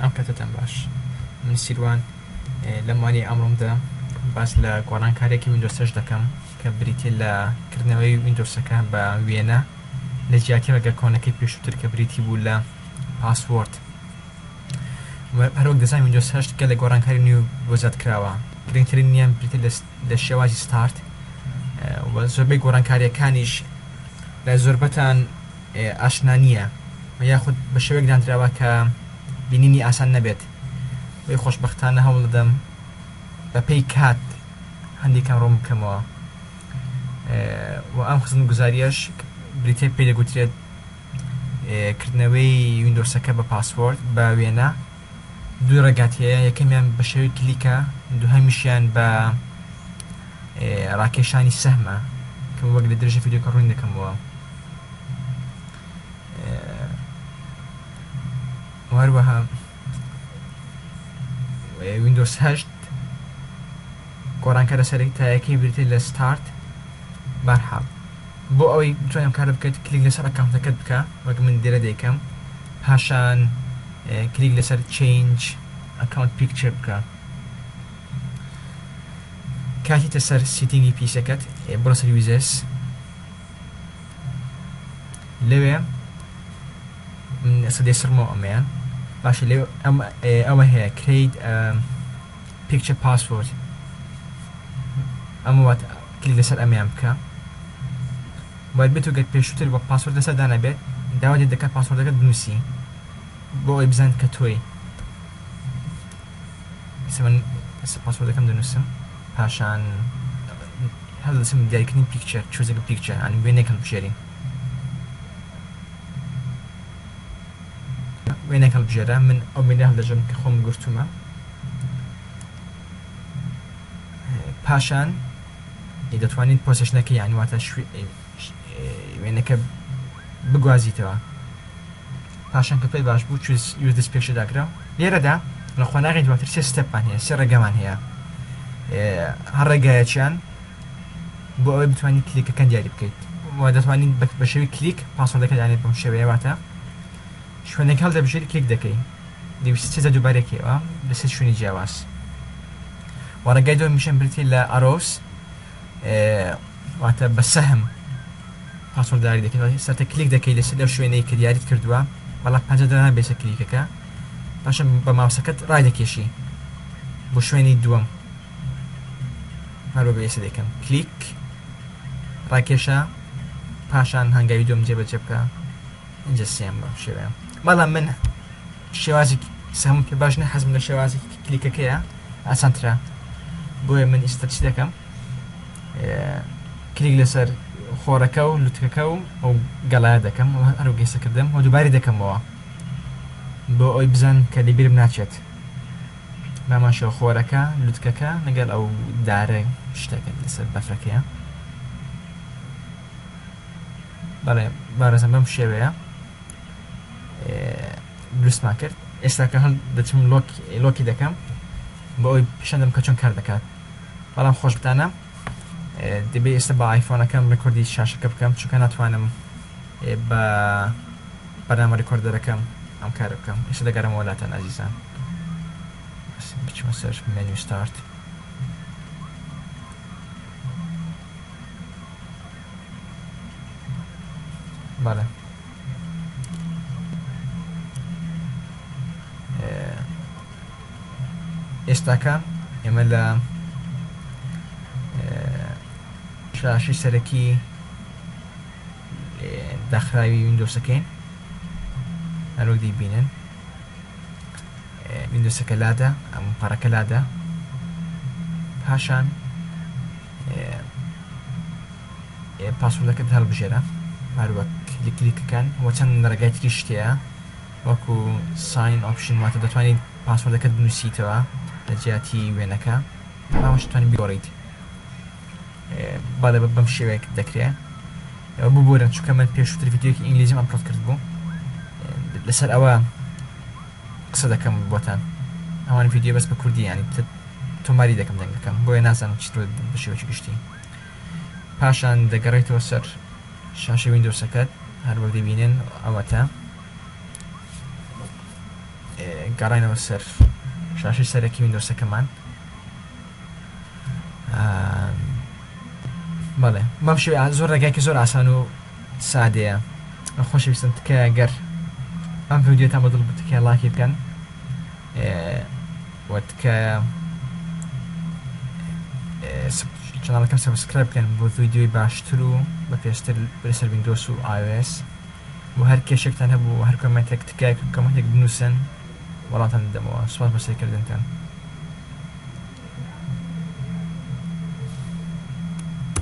ئەم کاتەتان باش. من سیروان لەم وانەی ئەمڕۆمدا باس لە گۆڕانکاریەکی ویندۆسەش دەکەم کە بریتیە لە کردنەوەی ویندۆسەکە بە وێنە لە جیاتی ڕێگە کۆنەکەی پێشووتر کە بریتی بوو لە پاسوۆرد هەروەک دەزان ویندۆس هەشت گەلە لە گۆڕانکاری نیو بۆ زیاد کراوە گرنگترین نیان بریتە لە شێوازی ستارت زۆربەی گۆڕانکاریەکانیش لە زۆربەتان ئاشنا نییە یاخود بە شێوەیەک دانراوە کە بینینی ئاسان نەبێت وەی خۆشبەختانە هەوڵدەدەم بە پێی کات هەندێک کەم ڕوون بکەمەوە و ئەم خزمەتگوزاریەش بریتیە پێی دەگوترێت کردنەوەی ویندۆسەکە بە پاسۆرد بە وێنە دوو ڕێگات هەیە یەکەمیان بە شێوەی کلیکە دووهەمیشیان بە ڕاکێشانی سەهمە کە وەک لە درێژە ڤیدیۆکە ڕووین دەکەمەوە هەروەها وینندۆس هەشت گۆڕانکارە سەرێک تایەکەی بریتێ لە ستارت بارحاڵ بۆ ئەوەی بتوانم کار بکەیت کلیک لەسەر ئەکانتەکەت بکە وەک من دیرە دەیکەم پاشان کلیک لەسەر Change Account Picture بکە کاتیتە سەر سیتینگی پیسەکەت بڕە سەر Users لەوێ سەدەی سڕمەوە ئەمەیە باشە لێ ئەوە هەیە کرید پیکچە پاسۆرد ئەمە وات کلی لەسەر ئەمیان بکە بۆیە بێتو گەر پێشوتر وەک پاسۆرد لەسەر دانەبێت داوات لێت دەکات پاسۆردەکەت بنوسی بۆ ئەوەی بزانێت کە تۆی ئیستا من ئیستا پاسۆردەکەم دەنوسم پاشان هەڵدەسم دیاریکردنی پیکچەر چۆزەکە پیکچەر یانی وێنەیەک هەڵبژێرین وێنەیەک هەڵبژێرە من ئەو وێنە هەڵدەژێرم کە خۆم گرتومە پاشان دەتوانیت پۆسێشنەکە یان واتە وێنەکە بگوازیتەوە پاشان کە پێت باش بوو یوردس پێکشە داکرا لێرەدا لە قۆناغی دواتر سێ ستەپمان هەیە سێ ڕێگەمان هەیە هەر ڕێگایەکیان بۆ ئەوەی بتوانیت کلیکەکەن دیاری بکەیت و دەتوانیت بە شێوی کلیک پاسۆردەکە دانێت بەم شێوەیە واتە شوێنەکە هەڵدەبژێری کلیک دەکەی دەویست سێزە دووبارێکەوە لەسەر شوێنی جیاواز و ڕێگای دووەمیشیان بریتیە لە ئەرۆس واتە بە سەهم پاسۆرداری دەکەن سەرتە کلیک دەکەی لەسەر لەو شوێنەی کە دیاریت کردووە بەڵام پەنجە دەنان بێسە کلیکەکە پاشە بە ماوسەکەت ڕای دەکێشی بۆ شوێنی دووەم هەروە بەێسە دەکەم کلیک ڕاکێشە پاشان هەنگاوی دوم جێبەجێ بکە ئەجە سێم بەم شێوەیە بەڵام من شێوازی سەمم پێ باش نیە حەزم لە شێوازی کلیکەکەیە ئاسانترە بۆیە من ئیستا چی دەکەم کلیک لەسەر خۆرەکە و لوتکەکە و ئەو گەڵایە دەکەم و هەرو گەیسەکردم و دووباری دەکەمەوە بۆ ئەوی بزان کە لەبیرم ناچێت ماماشە خۆرەکە لوتکەکە لەگەڵ ئەو دارە شتەکە لەسەر بەفرەکەیە بەڵێ بارەزم بەم شێوەیە دروستمان کرد ئێستا کە هەند دەچم لۆکی دەکەم بۆ ئەوی پیشەندەم کە چۆن کار دەکات بەڵام خۆشبتانە دەبێ ئێستا بە ئایفۆنەکەم ڕکردی شاشەکە بکەم چونکە ناتوانم بە بەنامە ڕکۆردەرەکەم ئەم کار بکەم ئێستا دەگەرم وەلاتەن ئازیزان بچمە سەر مێنوی ستارت بەڵێ ئێستاکە ئێمە لە شاشی سەرەکی داخراوی وینندۆسەکەین هەرۆک دیبینن وینندۆسەکە لادا ئەم پەڕەکە لادا پاشان پاسۆردەکەت هەڵبژێرە هەروەک کلیکەکان وە چەند ڕێگای تری شتەیە وەکو ساین ئۆپشن واتە دەتوانین پاسۆردەکەت بنووسیتەوە لە جیاتی وێنەکە ئەمەش توانین بیۆڕیت بەڵێ بەم شێوەیەک دەکرێت ببورن چکە من پێشوتر ڤیددیوکی ئینگلیزیم ئەپلۆد کرد بوو لەسەر ئەوە قسە دەکەم بۆتان ئەوان ڤیدیۆ بەس بە کوردی یانی تۆماری دەکەم دەنگەکەم بۆیە نازانم چی بە شێوەی گشتی پاشان دەگەڕێتەوە سەر شاشە وینندۆسەکەت هەر وەک دەبینن ئەوەتە گەڕێنەوە سەر شاشی سەرەکی وینندۆسەکەمان بەڵێ بەم شێویان زۆر ڕێگایکە زۆر ئاسان و سادەیە خۆشەویستن تکایە گەر ئەم ڤیدیۆتان بە دڵ بوو تکایە ڵایکی بکەن و تکایە چناڵەکەم سەبسکرایب بکەن بۆ ڤیدیۆی باشتر و بە پێشتر لەسەر ویندۆس و iOS و هەر کێشێکتان هەبوو هەر کۆمنتێک تکایە کۆمنتێک بنووسن وەڵاتان دەمەوە سوپاس بە سەیرکردنتان